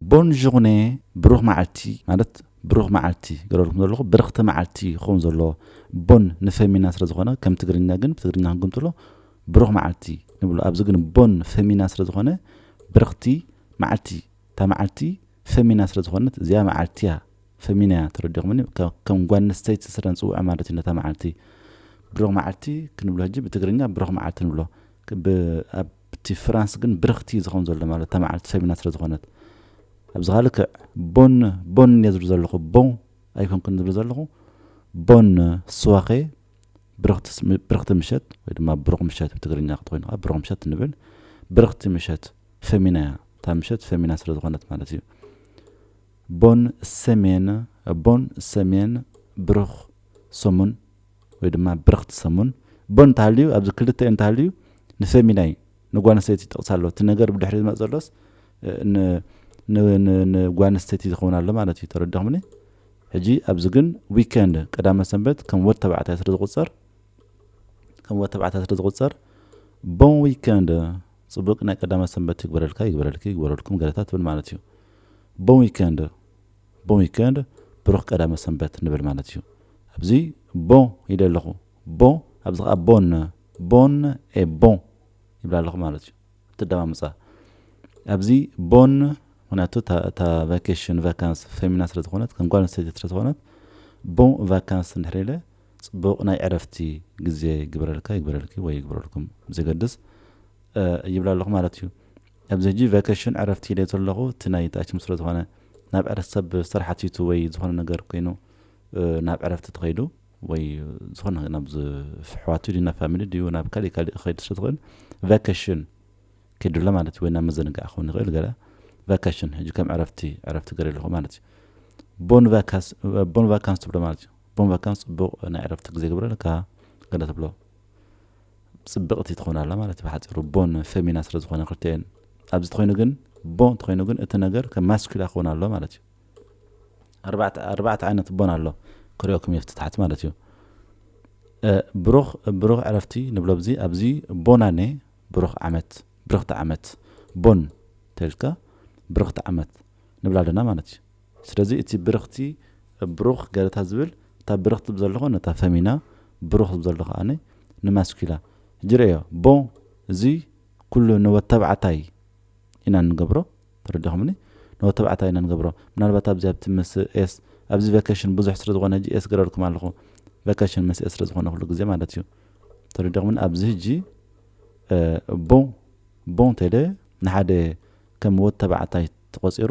ቦን ዡርኔ ብሩኽ መዓልቲ ማለት ብሩኽ መዓልቲ ይገብረልኩም ዘለኹ ብርኽቲ መዓልቲ ክኸውን ዘለዎ ቦን ንፈሚና ስለ ዝኾነ ከም ትግርኛ ግን ብትግርኛ ክንግምጥሎ ብሩኽ መዓልቲ ንብሎ ኣብዚ ግን ቦን ፈሚና ስለ ዝኾነ ብርኽቲ መዓልቲ እታ መዓልቲ ፈሚና ስለ ዝኾነት እዚኣ መዓልቲ እያ ፈሚና እያ ተረዲኹምኒ ከም ጓል ኣንስተይቲ ስለ ንፅውዖ ማለት እዩ ነታ መዓልቲ ብሩኽ መዓልቲ ክንብሎ ሕጂ ብትግርኛ ብሩኽ መዓልቲ ንብሎ እቲ ፍራንስ ግን ብርኽቲ እዩ ዝኸውን ዘሎ ማለት እታ መዓልቲ ሰሚና ስለ ዝኾነት ኣብዚ ከኣ ልክዕ ቦን ቦን እየ ዝብል ዘለኹ ቦን ኣይኮንኩን ዝብል ዘለኹ ቦን ስዋኼ ብርኽቲ ምሸት ወይ ድማ ብሩኽ ምሸት ብትግርኛ ክትኮይኑ ከኣ ብሩኽ ምሸት ንብል ብርኽቲ ምሸት ፈሚና እያ እታ ምሸት ፈሚና ስለ ዝኾነት ማለት እዩ ቦን ሰሜን ቦን ሰሜን ብሩኽ ሰሙን ወይ ድማ ብርኽቲ ሰሙን እቦ እንተሃልዩ ኣብዚ ክልተ እንተሃልዩ ንፌሚናይ ንጓንስተይቲ ይጠቕሳ ኣሎ እቲ ነገር ብድሕሪ ዝመጽእ ዘሎስ ን ን ን ንጓንስተይቲ ዝኸውን ኣሎ ማለት እዩ ተረዲኹምኒ ሕጂ ኣብዚ ግን ዊከንድ ቀዳመ ሰንበት ከም ወድ ተባዕታይ ስለ ዝቑጸር ከም ወድ ተባዕታይ ስለ ዝቑጸር ቦን ዊከንድ ጽቡቅ ናይ ቀዳመ ሰንበት ይግበረልካ ይግበረልኪ ይግበረልኩም ገለታት ትብል ማለት እዩ ቦን ዊከንድ Bon week-end ብሩኽ ቀዳመ ሰንበት ንብል ማለት እዩ። ኣብዚ Bon ኢለ ኣለኹ። Bon ኣብዚ ከኣ Bonne Bonne et Bon ይብል ኣለኹ ማለት እዩ። እተደማምጻ ኣብዚ Bonne ምክንያቱ እታ እታ ቫኬሽን ቫካንስ ፌሚና ስለ ዝኾነት ከም ጓል ኣንስተይቲ ስለ ዝኾነት Bon vacances እንድሕር ኢለ ጽቡቕ ናይ ዕረፍቲ ግዜ ይግበረልካ ይግበረልኪ ወይ ይግበረልኩም ብዘገድስ ይብል ኣለኹ ማለት እዩ። ኣብዚ ሕጂ ቫኬሽን ዕረፍቲ ኢለዮ ዘለኹ እቲ ናይ ተኣችም ስለ ዝኾነ ናብ ዕረፍቲ ሰብ ስራሕ ኣትዩቱ ወይ ዝኾነ ነገር ኮይኑ ናብ ዕረፍቲ ተኸይዱ ወይ ዝኾነ ነገር ናብ ዝፍሕዋቱ ድዩ ናብ ፋሚሊ ድዩ ናብ ካሊእ ካሊእ ክኸይድ ስለ ዝኽእል ቫኬሽን ኪዱ ኣሎ ማለት እዩ ወይ ናብ መዘንግዒ ክኸውን ይኽእል ገለ ቫኬሽን ሕጂ ከም ዕረፍቲ ዕረፍቲ ገረ ኣለኹ ማለት እዩ ቦን ቫካስ ቦን ቫካንስ ትብሎ ማለት እዩ ቦን ቫካንስ ጽቡቕ ናይ ዕረፍቲ ግዜ ግብረልካ ገለ ትብሎ ጽብቕቲ ትኾን ኣላ ማለት ብሓጺሩ ቦን ፈሚና ስለ ዝኾነ ክልተኤን ኣብዚ ተኾይኑ ግን ቦ እንተኾይኑ ግን እቲ ነገር ከም ማስኩላ ክኾን ኣሎ ማለት እዩ ኣርባዕተ ዓይነት ቦን ኣሎ ክሪኦኩም እየ ፍትታሕት ማለት እዩ ብሩኽ ብሩኽ ዕረፍቲ ንብሎ ብዚ ኣብዚ ቦናኔ ብሩኽ ዓመት ብርኽቲ ዓመት ቦን ተልካ ብርኽቲ ዓመት ንብላ ኣለና ማለት እዩ ስለዚ እቲ ብርኽቲ፣ ብሩኽ፣ ገረታ ዝብል እታ ብርኽቲ ብዘለኹ ነታ ፈሚና፣ ብሩኽ ብዘሎ ከኣ ንማስኲላ። ሕጂ ርእዮ፣ ብ እዚ ኩሉ ንወተብዓታይ ኢና እንገብሮ። ተረዲኹምኒ? ንወተብዓታይ ኢና እንገብሮ። ምናልባት ኣብዚ ኣብቲ ምስ ኤስ፣ ኣብዚ ቫኬሽን ብዙሕ ስለ ዝኾነ ሕጂ ኤስ ገረርኩም ኣለኹ። ቫኬሽን ምስ ኤስ ስለ ዝኾነ ኩሉ ግዜ ማለት እዩ። ተረዲኹምኒ? ኣብዚ ሕጂ ብ፣ ብ እንተ ኢለ ንሓደ ከም ወተብዓታይ ተቖጺሩ፣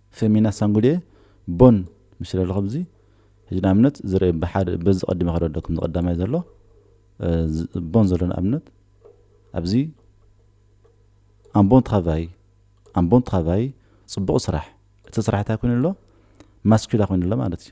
Femina Sangude Bon ምሽ ለለኹ ኣብዚ ሕጂ ንኣብነት ዝርእ ብሓደ በዚ ቀዲመ ክረዶ ከምዚ ቀዳማይ ዘሎ ቦን ዘሎ ንኣብነት ኣብዚ un bon travail un bon travail ጽቡቕ ስራሕ እቲ ስራሕ እንታይ ኮይኑ ኣሎ ማስኩላ ኮይኑ ኣሎ ማለት እዩ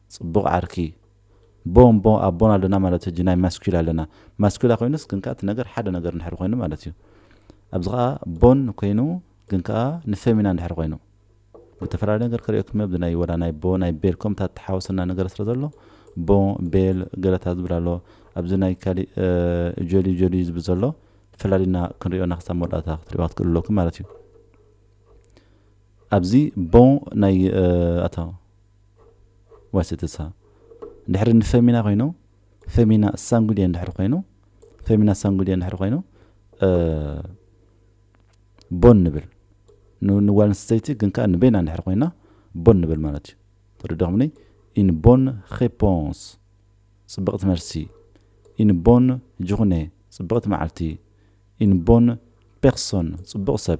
ጽቡቅ ዓርኪ ቦ እምቦ ኣቦና ኣለና ማለት ህጂ ናይ ማስኲላ ኣለና ማስኲላ ኮይኑስ ግን ከኣ እቲ ነገር ሓደ ነገር እንድሕሪ ኮይኑ ማለት እዩ ኣብዚ ከኣ ቦን ኮይኑ ግን ከኣ ንፌሚና እንድሕሪ ኮይኑ ብተፈላለየ ነገር ክርእየኩም ኣብዚ ናይ ወላ ናይ ቦ ናይ ቤል ኮም እታ ተሓወሰና ነገር ስለ ዘሎ ቦ ቤል ገለታ ዝብል ኣሎ ኣብዚ ናይ ካሊእ ጆሊ ጆሊ ዝብል ዘሎ ፈላሊና ክንሪኦና ክሳብ መወዳእታ ክትሪእዋ ክትክእሉ ኣለኩም ማለት እዩ ኣብዚ ቦ ናይ ኣታ ዋሴተሳ ድሕሪ ንፈሚና ኮይኑ ፈሚና ሳንጉዴ እንድሕር ኮይኑ ፈሚና ሳንጉዴ እንድሕር ኮይኑ ቦን ንብል ንጓል ኣንስተይቲ ግን ከዓ ንበይና እንድሕር ኮይና ቦን ንብል ማለት እዩ ተረዳኹምኒ ኢን ቦን ሬፖንስ ፅብቕቲ መልሲ ኢን ቦን ጅኹነ ፅብቕቲ መዓልቲ ኢን ቦን ፔርሶን ፅቡቕ ሰብ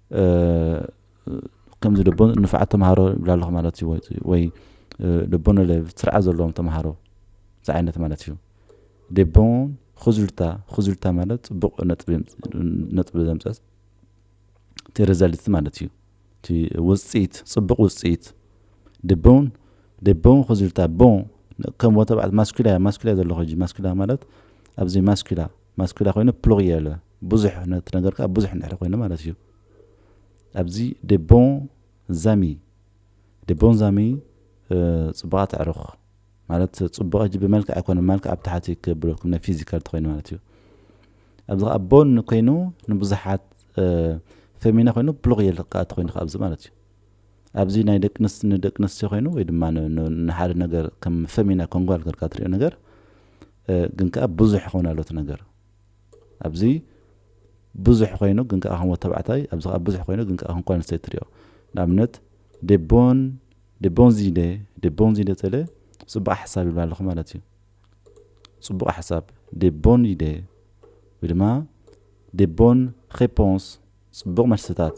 ከምዚ ደቦ ንፋዓት ተምሃሮ ይብላ ኣለኹ ማለት እዩ ወይ ደቦ ነለ ስርዓት ዘለዎም ተምሃሮ ዝዓይነት ማለት እዩ ደቦ ኹዙልታ ኹዙልታ ማለት ፅቡቕ ነጥቢ ዘምፀስ እቲ ሪዘልት ማለት እዩ እቲ ውፅኢት ፅቡቕ ውፅኢት ድቦን ድቦን ኹዙልታ ቦ ከም ወተባዕት ማስኩላ ማስኩላ ዘለኹ ማስኩላ ማለት ኣብዚ ማስኩላ ማስኲላ ኮይኑ ፕሉሪየለ ብዙሕ ነቲ ነገር ከኣ ብዙሕ እንድሕሪ ኮይኑ ማለት ኢዩ። ኣብዚ ዴ ቦን ዛሚ ዴ ቦን ዛሚ ጽቡቓት ኣዕሩኽ ማለት ጽቡቕ ሕጂ ብመልክዕ ኣይኮነን ማልክዕ ኣብ ታሕቲ ክብለኩም ናይ ፊዚካል ተኮይኑ ማለት ኢዩ። ኣብዚ ከኣ ቦን ኮይኑ ንብዙሓት ፌሚና ኮይኑ ፕሉሪየል ከኣ ተኮይኑ ከኣ ኣብዚ ማለት ኢዩ። ኣብዚ ናይ ደቂ ኣንስትዮ ንደቂ ኣንስትዮ ኮይኑ ወይ ድማ ንሓደ ነገር ከም ፈሚና ከም ጓል ጌርካ ትሪኦ ነገር ግን ከኣ ብዙሕ ይኸውን ኣሎ እቲ ነገር ኣብዚ ብዙሕ ኮይኑ ግን ከኣ ከም ወዲ ተባዕታይ ኣብዚ ከኣ ብዙሕ ኮይኑ ግን ከኣ ከም ጓል ኣንስተይቲ ትሪኦ ንኣብነት ዴቦን ዴቦን ዚደ ዴቦን ዚደ ጸለ ጽቡቕ ሓሳብ ይብላ ኣለኹ ማለት እዩ ጽቡቕ ሓሳብ ዴቦን ይደ ወይ ድማ ዴቦን ሬፖንስ ጽቡቕ መልስታት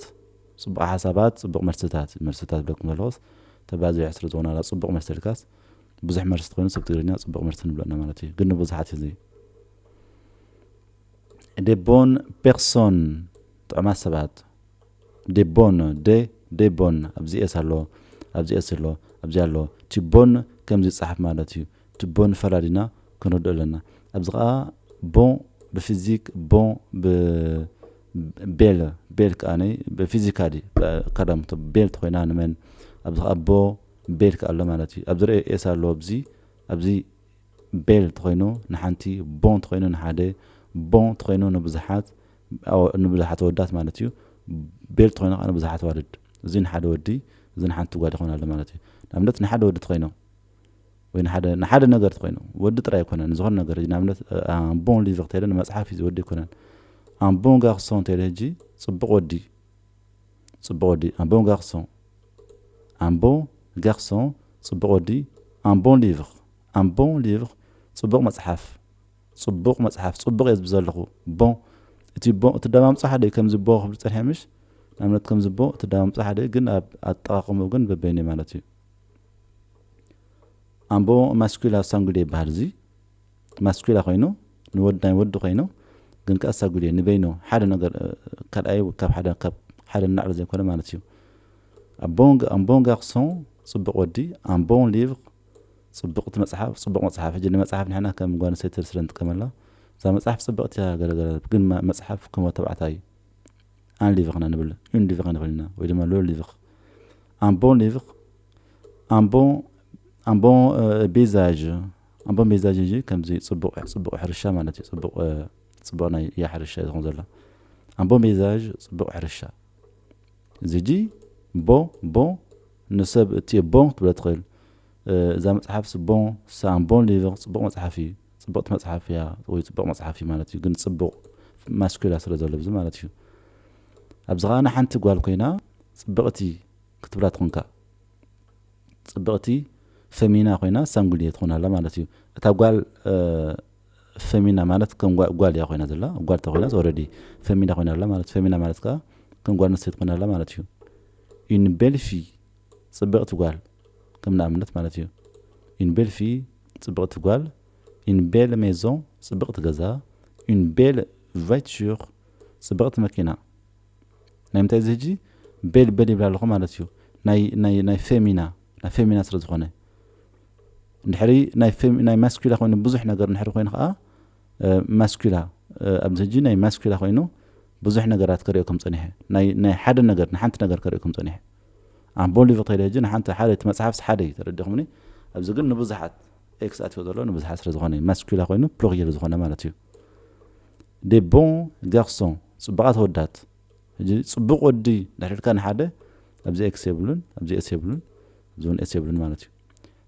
ጽቡቕ ሓሳባት ጽቡቕ መልስታት መልስታት ዶ ክንበልዎስ ተባዚሑ ስለ ዝኾነ ዋላ ጽቡቕ መልሲ ኢልካስ ብዙሕ መልሲ ተኾይኑ ሰብ ትግርኛ ጽቡቕ መልሲ ንብሎ እና ማለት እዩ ግን ንብዙሓት እዩ እዚ des bonnes personnes ጥዑማት ሰባት des bonnes de des bonnes ኣብዚ ኤስ ኣሎ ኣብዚ ኤስ ኣሎ ኣብዚ ኣሎ እቲ ቦን ከምዚ ይጸሓፍ ማለት እዩ እቲ ቦን ፈላሊና ክንርድኦ ኣለና ኣብዚ ከዓ ቦን ብፊዚክ ቦን ብ ቤል ቤል ከኣ ፊዚካሊ ቀደም ቤል ተኾይና ንመን ኣብዚ ከኣ ኣቦ ቤል ከኣ ኣሎ ማለት እዩ ኣብዚ ርኤ ኤስ ኣሎ ኣብዚ ኣብዚ ቤል ተኾይኑ ንሓንቲ ቦን ተኾይኑ ንሓደ ቦን ተኾይኑ ንብዙሓት ንብዙሓት ኣወዳት ማለት እዩ ቤል ተኾይኑ ከኣ ንብዙሓት ኣዋልድ እዚ ንሓደ ወዲ እዚ ንሓንቲ ጓል ይኾን ኣሎ ማለት እዩ ንኣብነት ንሓደ ወዲ ተኾይኑ ወይ ንሓደ ንሓደ ነገር ተኾይኑ ወዲ ጥራይ ኣይኮነን ንዝኾነ ነገር ሕጂ ንኣብነት ኣምቦን ሊቪ ክተይለ ንመጽሓፍ እዩ ዝወዲ ኣይኮነን ኣምቦን ጋክሶ እንተይለ ሕጂ ጽቡቕ ወዲ ጽቡቕ ወዲ ኣምቦን ጋክሶ ኣምቦ ጋክሶ ጽቡቕ ወዲ ኣምቦን ሊቪኽ ኣምቦን ሊቪኽ ጽቡቕ መጽሓፍ ጽቡቕ መጽሓፍ ጽቡቕ እየ ዝብ ዘለኹ ቦ እቲ ቦ እቲ ደማምፆ ሓደ እዩ ከምዚ ቦ ክብል ፀኒሐ ምሽ ንኣብነት ከምዚ ቦ እቲ ደማምፆ ሓደ እዩ ግን ኣብ ኣጠቃቅምኡ ግን በበይኑ ማለት እዩ ኣምቦ ማስኲላ ሳንጉዴ ይበሃል እዚ ማስኲላ ኮይኑ ንወድ ናይ ወዲ ኮይኑ ግን ከኣ ሳጉዴ ንበይኑ ሓደ ነገር ካልኣይ ካብ ሓደ ካብ ሓደ ንላዕሊ ዘይኮነ ማለት እዩ ኣቦንግ ኣምቦንግ ኣክሶን ጽቡቅ ወዲ ኣምቦን ሊቭ ጽቡቅቲ መጽሓፍ ጽቡቅ መጽሓፍ ሕጂ ንመጽሓፍ ንሕና ከም ጓል ኣንስተይቲ ስለ ንጥቀመላ እዛ መጽሓፍ ጽብቅቲ እያ ገለገለ ግን መጽሓፍ ከም ተባዕታይ ኣን ሊቭኽና ንብል ዩን ሊቭኽ ንብል ኢና ወይ ድማ ሎ ሊቭኽ Un bon livre, un bon un bon euh, paysage, un bon paysage እንጂ ከምዚ ጽቡቕ ጽቡቕ ሕርሻ ማለት እዩ ጽቡቕ ጽቡቕ ናይ እያ ሕርሻ እዩ ዝኾን ዘሎ un bon paysage ጽቡቕ ሕርሻ እዚ ሕጂ ቦን ቦን ንሰብ እትዮ ቦን ክትብሎ ትኽእል እዛ መጽሓፍ ስቦን ሳን ቦን ሊቨር ጽቡቕ መጽሓፍ እዩ ጽቡቕቲ መጽሓፍ እያ ወይ ጽቡቕ መጽሓፍ እዩ ማለት እዩ ግን ጽቡቕ ማስኩላ ስለ ዘሎ ብዚ ማለት እዩ ኣብዚ ከኣ ንሓንቲ ጓል ኮይና ጽብቅቲ ክትብላ ትኮንካ ጽብቅቲ ፈሚና ኮይና ሳንጉልየ ትኮን ኣላ ማለት እዩ እታ ጓል ፈሚና ማለት ከም ጓል እያ ኮይና ዘላ ጓል ተኮይናስ ኦረዲ ፈሚና ኮይና ኣላ ማለት ፈሚና ማለት ከኣ ከም ጓል ኣንስተይቲ ኮይና ኣላ ማለት እዩ ዩኒቤልፊ ጽብቅቲ ጓል ከም ንኣብነት ማለት እዩ ዩኒቤልፊ ጽብቅቲ ጓል ዩኒቤል ሜዞን ጽብቅቲ ገዛ ዩኒቤል ቫይትሹር ጽብቅቲ መኪና ናይ ምንታይ እዚ ህጂ ቤል ቤል ይብላ ኣለኹ ማለት እዩ ናይ ናይ ናይ ፌሚና ናይ ፌሚና ስለ ዝኾነ እንድሕሪ ናይ ፌም ናይ ማስኩላ ኮይኑ ብዙሕ ነገር እንድሕሪ ኮይኑ ከኣ ማስኩላ ኣብዚ ህጂ ናይ ማስኩላ ኮይኑ ብዙሕ ነገራት ከርእየኩም ጸኒሐ ናይ ናይ ሓደ ነገር ንሓንቲ ነገር ከርእየኩም ጸኒሐ ኣምቦሊ ተይለ ህጂ ንሓንቲ ሓደ እቲ መጽሓፍስ ሓደ እዩ ተረዲኹምኒ ኣብዚ ግን ንብዙሓት ኤክስ ኣትዮ ዘሎ ንብዙሓት ስለ ዝኾነ ማስኩላ ኮይኑ ፕሎክ ዝኮነ ማለት እዩ Des bons garçons ጽቡቓት ኣወዳት ሕጂ ጽቡቕ ወዲ ድሕሪ ኢልካ ንሓደ ኣብዚ ኤክስ የብሉን ኣብዚ ኤስ የብሉን ኣብዚ ውን ኤስ የብሉን ማለት እዩ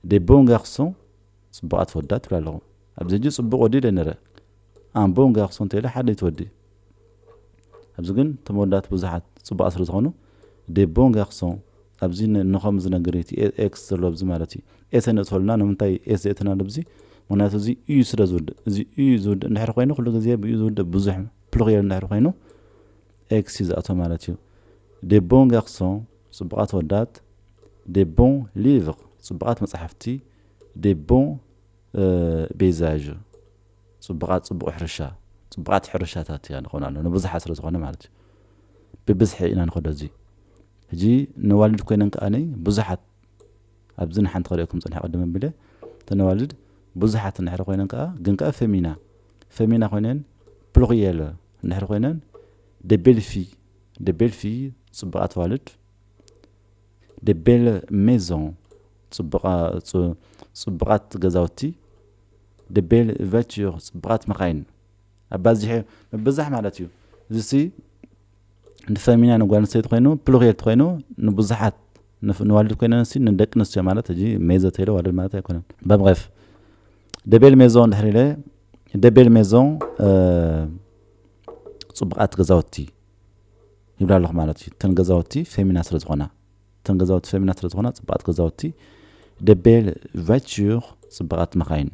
Des bons garçons ጽቡቓት ኣወዳት ትብል ኣለኹ ኣብዚ ሕጂ ጽቡቕ ወዲ ኢለ ነረ Un bon garçon እንተኢለ ሓደ እዩ እቲ ወዲ ኣብዚ ግን እቶም ኣወዳት ብዙሓት ጽቡቓት ስለ ዝኾኑ ዴ ቦን ጋርሶን ኣብዚ ንከም ዝነገር እቲ ኤክስ ዘሎ ኣብዚ ማለት እዩ ኤስ ኣይነእትወልና ንምንታይ ኤስ ዘእተናሉ ብዚ ምክንያቱ እዚ እዩ ስለ ዝውድእ እዚ እዩ ዝውድእ እንድሕር ኮይኑ ኩሉ ግዜ ብእዩ ዝውድእ ብዙሕ ፕሉሪየል እንድሕር ኮይኑ ኤክስ እዩ ዝኣቶ ማለት እዩ ዴ ቦን ጋርሶን ጽቡቃት ወዳት ዴ ቦን ሊቭር ጽቡቃት መጽሓፍቲ ዴ ቦን ቤዛዥ ጽቡቓት ጽቡቕ ሕርሻ ጽቡቓት ሕርሻታት እያ ንኾን ኣሎ ንብዙሓት ስለ ዝኾነ ማለት እዩ ብብዝሒ ኢና ንኸዶ እዚ ሕጂ ነዋልድ ኮይነን ከኣኒ ብዙሓት ኣብዚ ንሓንቲ ክርእየኩም ጽንሐ ቅድም ኣቢለ ተነዋልድ ብዙሓት እንድሕሪ ኮይነን ከኣ ግን ከኣ ፈሚና ፈሚና ኮይነን ፕሉክየለ እንድሕሪ ኮይነን ደቤልፊ ደቤልፊ ጽቡቓት ዋልድ Des belles maisons ጽቡቓት ገዛውቲ Des belles voitures ጽቡቓት መኻይን ኣባዚሑ ምብዛሕ ማለት እዩ እዚሲ ንፈሚና ንጓል ኣንስተይቲ ኮይኑ ፕሉሪየል ኮይኑ ንብዙሓት ንዋልድ ኮይነን ሲ ንደቂ ኣንስትዮ ማለት እዚ ሜዞ ተይለ ዋልድ ማለት ኣይኮነን በብሬፍ ደቤል ሜዞን ድሕሪ ኢለ ደቤል ሜዞን ጽቡቓት ገዛውቲ ይብላ ኣለኹ ማለት እዩ እተን ገዛውቲ ፌሚና ስለ ዝኾና እተን ገዛውቲ ፌሚና ስለ ዝኾና ፅባቕቲ ገዛውቲ ደቤል ቫይትር ፅባቓት መኻይን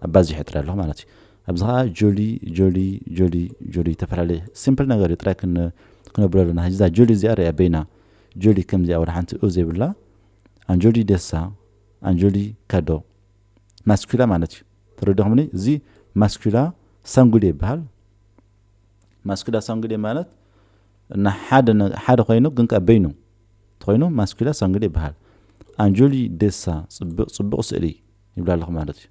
ኣባዚሐ ጥራይ ኣለኹ ማለት እዩ ኣብዚ ከዓ ጆሊ ጆሊ ጆሊ ጆሊ ዝተፈላለየ ሲምፕል ነገር እዩ ጥራይ ክነብሎ ኣለና ሕዚ እዛ ጆሊ እዚኣ ርያ በይና ጆሊ ከምዚኣ ወደ ሓንቲ ኡ ዘይብላ ኣንጆሊ ደሳ ኣንጆሊ ካዶ ማስኩላ ማለት እዩ ተረዲኹምኒ እዚ ማስኩላ ሳንጉሌ ይበሃል ማስኩላ ሳንጉዴ ማለት እና ሓደ ሓደ ኮይኑ ግን ከ በይኑ ተኮይኑ ማስኩላ ሳንጉዴ ይበሃል ኣንጆሊ ደሳ ጽብቅ ጽቡቅ ስእሊ ይብላ ኣለኹ ማለት እዩ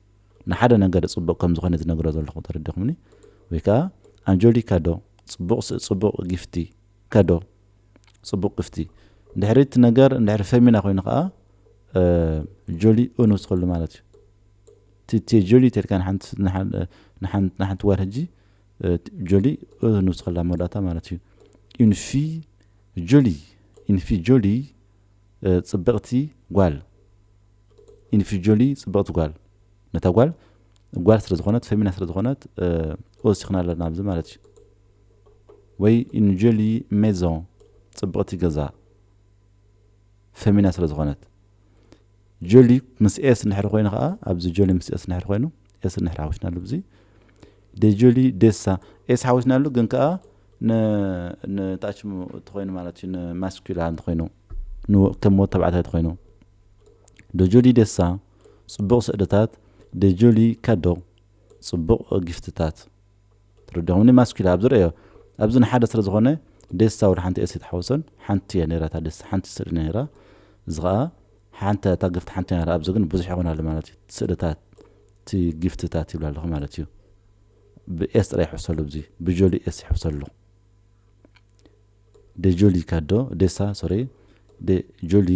ንሓደ ነገር ጽቡቅ ከም ዝኾነ ዝነግሮ ዘለኹ ተረዲኹምኒ ወይ ከዓ ኣንጆሊ ካዶ ጽቡቅ ጽቡቅ ጊፍቲ ከዶ ጽቡቅ ግፍቲ ድሕሪ እቲ ነገር ድሕሪ ፈሚና ኮይኑ ከዓ ጆሊ ኡን ውስኸሉ ማለት እዩ እቲ ጆሊ ተልካ ንሓንቲ ጓል ሕጂ ጆሊ ንውስኸላ ኣብ መወዳእታ ማለት እዩ ዩን ፊ ጆሊ ዩን ፊ ጆሊ ፅብቕቲ ጓል ዩን ፊ ጆሊ ፅብቕቲ ጓል ነታ ጓል ጓል ስለ ዝኾነት ፈሚና ስለ ዝኾነት ወሲኽና ኣለና ኣብዚ ማለት እዩ ወይ ዩን ጆሊ ሜዞን ፅብቕቲ ገዛ ፈሚና ስለ ዝኾነት ጆሊ ምስ ኤስ እንድሕር ኮይኑ ከዓ ኣብዚ ጆሊ ምስ ኤስ እንድሕር ኮይኑ ኤስ እንድሕር ሓዊስና ኣሉ ብዚ ደጆሊ ደሳ ኤስ ሓዊስና ኣሉ ግን ከኣ ንታች ተኮይኑ ማለት እዩ ንማስኩላ እንተኮይኑ ከም ወድ ተባዕታይ ተኮይኑ ደጆሊ ደሳ ጽቡቕ ስእልታት ደጆሊ ካዶ ጽቡቕ ጊፍትታት ትርድኦምኒ ማስኪላ ኣብዚ ረእዮ ኣብዚ ንሓደ ስለ ዝኮነ ዴስታ ወድ ሓንቲ ኤሲ ተሓውሶን ሓንቲ እያ ነራ እታ ዴስታ ሓንቲ ስእሊ ነራ እዚ ከኣ ሓንቲ እታ ግፍቲ ሓንቲ ነራ ኣብዚ ግን ብዙሕ ይኮን ኣሎ ማለት እዩ ስእልታት እቲ ግፍትታት ይብላ ኣለኩ ማለት እዩ ብኤስ ጥራይ ይሕብሰሉ እዚ ብጆሊ ኤስ ይሕብሰሉ ደጆሊ ካዶ ዴሳ ሶሪ ደጆሊ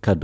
ካዶ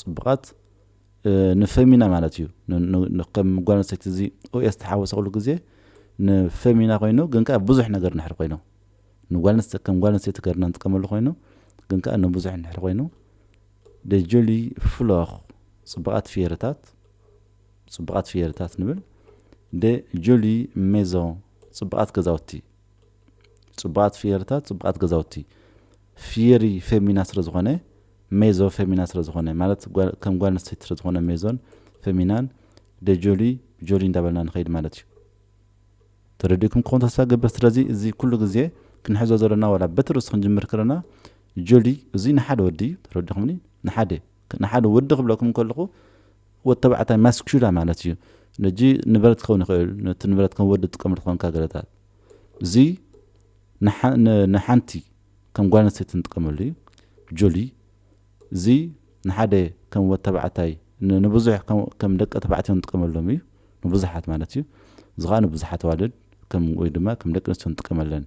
ጽቡቃት ንፈሚና ማለት እዩ ከም ጓል ኣንስተይቲ እዚ ኡኤ ዝተሓወሰኩሉ ግዜ ንፈሚና ኮይኑ ግን ከኣ ብዙሕ ነገር ንሕር ኮይኑ ንጓል ኣንስተይቲ ከም ጓል ኣንስተይቲ ገርና ንጥቀመሉ ኮይኑ ግን ከኣ ንብዙሕ ንሕር ኮይኑ ደጆሊ ፍሎኽ ጽቡቃት ፍየርታት ጽቡቃት ፍየርታት ንብል ደጆሊ ሜዞ ጽቡቃት ገዛውቲ ጽቡቓት ፍየርታት ጽቡቓት ገዛውቲ ፍየሪ ፌሚና ስለ ዝኾነ ሜዞ ፌሚና ስለ ዝኾነ ማለት ከም ጓል ኣንስተይቲ ስለ ዝኾነ ሜዞን ፌሚናን ደጆሊ ጆሊ እንዳበልና ንኸይድ ማለት እዩ ተረዲእኩም ክኾን ተስፋ ገብር ስለዚ እዚ ኩሉ ግዜ ክንሕዞ ዘለና ዋላ በቲ ርእሱ ክንጅምር ከለና ጆሊ እዚ ንሓደ ወዲ ተረዲኹምኒ ንሓደ ንሓደ ወዲ ክብለኩም ከለኹ ወድ ተባዕታይ ማስኩላ ማለት እዩ ነጂ ንበረት ክኸውን ይኽእል ነቲ ንበረት ከም ወዲ ትጥቀመሉ ትኾንካ ገለታት እዚ ንሓንቲ ከም ጓል ኣንስተይቲ ንጥቀመሉ እዩ ጆሊ እዚ ንሓደ ከም ወድ ተባዕታይ ንብዙሕ ከም ደቂ ተባዕትዮ ንጥቀመሎም እዩ ንብዙሓት ማለት እዩ እዚ ኸኣ ንብዙሓት ኣዋልድ ከም ወይ ድማ ከም ደቂ ኣንስትዮ ንጥቀመለን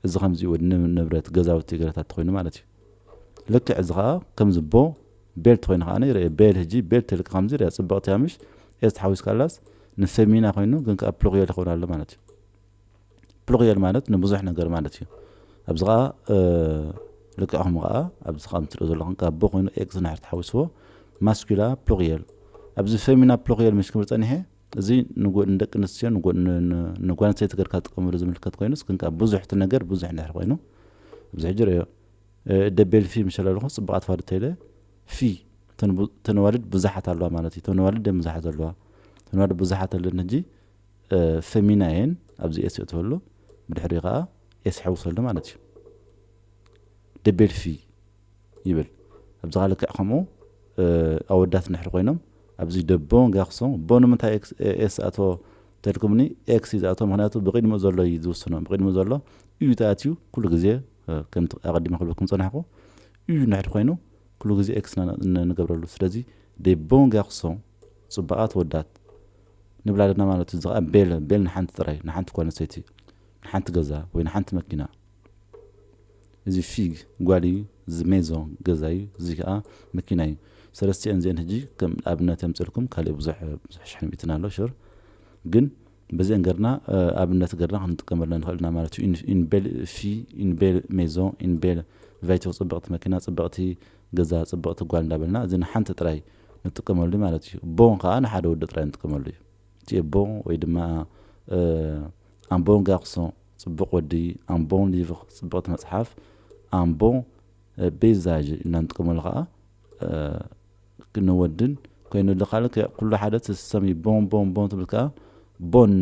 እዚ ከምዚ ወድ ንብረት ገዛውቲ ገለታት ተኾይኑ ማለት እዩ ልክዕ እዚ ከኣ ከም ዝቦ ቤልት ኮይኑ ከኣ ይርኤ ቤል ህጂ ቤልት ተልካ ከምዚ ይርኣ ጽብቅቲ እያ ምሽ ኤስ ተሓዊስካላስ ንፌሚና ኮይኑ ግን ከኣ ፕሉርየል ይኸውን ኣሎ ማለት እዩ ፕሉርየል ማለት ንብዙሕ ነገር ማለት እዩ ኣብዚ ከኣ ልክዕኹም ከኣ ኣብዚ ከም ትሪኦ ዘለኹም ካብ ቦ ኮይኑ ኤክስ ንድሕር ተሓዊስዎ ማስኩላ ፕሉርየል ኣብዚ ፌሚና ፕሉርየል ምሽ ክብል ጸኒሐ እዚ ንደቂ ኣንስትዮ ንጓል ኣንስተይቲ ገርካ ትጥቀመሉ ዝምልከት ኮይኑስ ግን ከኣ ብዙሕ እቲ ነገር ብዙሕ እንድሕር ኮይኑ ኣብዚ ሕጂ ርእዮ ደቤል ፊ ምሸለ ኣለኹ ጽቡቓት ፋዱ ተይለ ፊ ተነዋልድ ብዙሓት ኣለዋ ማለት እዩ ተነዋልድ ደም ብዙሓት ዘለዋ ተነዋልድ ብዙሓት ኣለን ሕጂ ፈሚና እየን ኣብዚ ኤስ የእትወሉ ብድሕሪኡ ከኣ ኤስ ሕውሰሉ ማለት እዩ ደቤል ፊ ይብል ኣብዚ ከኣ ልክዕ ከምኡ ኣወዳት ንድሕር ኮይኖም ኣብዚ ደቦ ጋክሶ ቦ ንምንታይ ኤስ ኣቶ ተልኩምኒ ኤክስ እዩ ዝኣቶ ምክንያቱ ብቂድምኡ ዘሎ እዩ ዝውስኖ ብቂድምኡ ዘሎ እዩ ተኣትዩ ኩሉ ግዜ ከምቲ ኣቀዲመ ክብለኩም ጸናሕኩ እዩ ንድሕር ኮይኑ ኩሉ ግዜ ኤክስ ንገብረሉ ስለዚ ደቦ ጋክሶ ጽቡቃት ወዳት ንብላ ኣለና ማለት እዩ እዚ ከኣ ቤል ቤል ንሓንቲ ጥራይ ንሓንቲ ጓል ኣንስተይቲ ንሓንቲ ገዛ ወይ ንሓንቲ መኪና እዚ ፊግ ጓል እዩ እዚ ሜዞ ገዛ እዩ እዚ ከኣ መኪና እዩ ሰለስቲኤን እዚኤን ህጂ ከም ኣብነት የምጽልኩም ካልእ ብዙሕ ብዙሕ ሽሕ ሚእትን ኣሎ ሹር ግን በዚኤን ገርና ኣብነት ገርና ክንጥቀመለን ንኽእል ኢና ማለት እዩ ኢን ቤል ፊ ኢን ቤል ሜዞ ኢን ቤል ቫይቱር ጽብቕቲ መኪና ጽብቕቲ ገዛ ጽብቕቲ ጓል እንዳበልና እዚ ንሓንቲ ጥራይ ንጥቀመሉ ማለት እዩ ቦ ከኣ ንሓደ ወዲ ጥራይ ንጥቀመሉ እዩ እቲ ቦ ወይ ድማ ኣምቦንጋክሶ ጽቡቅ ወዲ ኣን ቦን ሊቭር ጽብቅቲ መጽሓፍ ኣን ቦን በይዛዥ ኢልና ንጥቀመሉ ከኣ ንወድን ኮይኑ ኣሎ ካልእ ከ ኩሉ ሓደ ትሰሚ ቦን ቦን ቦን ትብል ከኣ ቦን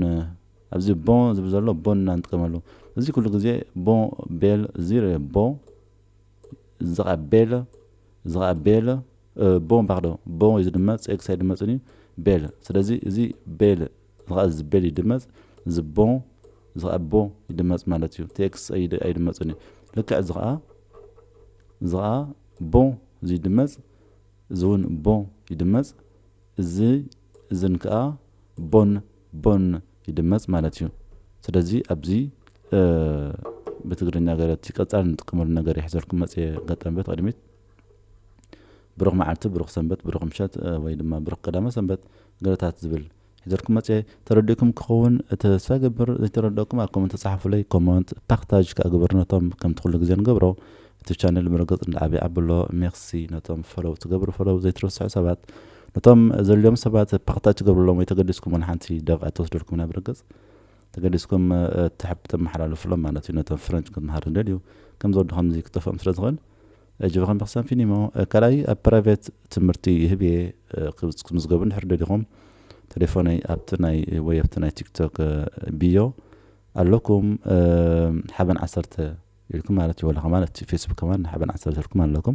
ኣብዚ ቦን ዝብል ዘሎ ቦን ኢና ንጥቀመሉ እዚ ኩሉ ግዜ ቦ ቤል ዚረ ቦ እዚ ከኣ ቤለ እዚ ከኣ ቤለ ቦ ባክዶ ቦ እዩ ዝድመጽ ኤክስ ኣይድመጽን እዩ ቤለ ስለዚ እዚ ቤለ ዝኸ ዝብል ይድመጽ ዝቦ ዝኸኣቦ ይድመጽ ማለት እዩ TX ኣይድመጽን እዩ ልክዕ ዝኸኣ ዝኸኣ ቦ እዚ ይድመጽ እዚ እውን ቦ ይድመጽ እዚ እዝን ከዓ ቦን ቦን ይድመጽ ማለት እዩ ስለዚ ኣብዚ ብትግርኛ ገረቲ ቀጻሊ ንጥቀመሉ ነገር ይሕዘልኩም መጽየ ገጠም ቤት ቅድሚት ብሩኽ መዓልቲ ብሩኽ ሰንበት ብሩኽ ምሸት ወይ ድማ ብሩኽ ቀዳመ ሰንበት ገረታት ዝብል ሒዘልኩም መጽየ ተረዲእኩም ክከውን ተስፋ ይገብር ዘይተረደእኩም ኣብ ኮመንት ጸሓፉለይ ኮመንት ፓክ ታጅ ከኣ ግበሩ ነቶም ከምቲ ኩሉ ግዜ ንገብሮ እቲ ቻነል ብርግጽ እንዳ ዓበየ ኣብሎ ሜርሲ ነቶም ፈሎው ትገብሩ ፈሎው ዘይትርስዑ ሰባት ነቶም ዘልዮም ሰባት ፓክ ታጅ ትገብርሎም ወይ ተገዲስኩም ዋላ ሓንቲ ደቂቃ ኣይትወስደልኩም ኢና ብርግጽ ተገዲስኩም ተሐብ ተመሓላልፉሎም ማለት እዩ ነቶም ፍረንች ክምሃር ዝደልዩ ከምዚ ወዲ ከምዚ ክጠፍኦም ስለ ዝክእል እጅ ብኸም ብክሳን ፊኒሞ ካልኣይ ኣብ ፕራይቬት ትምህርቲ ይህብ እየ ክትምዝገቡ እንድሕር ደሊኹም ተሌፎነይ ኣብቲ ናይ ወይ ኣብቲ ናይ ቲክቶክ ቢዮ ኣለኩም ሓበን ዓሰርተ ኢልኩም ማለት እዩ ወላ ከማን ኣብቲ ፌስቡክ ከማን ሓበን ዓሰርተ ኢልኩም ኣለኩም።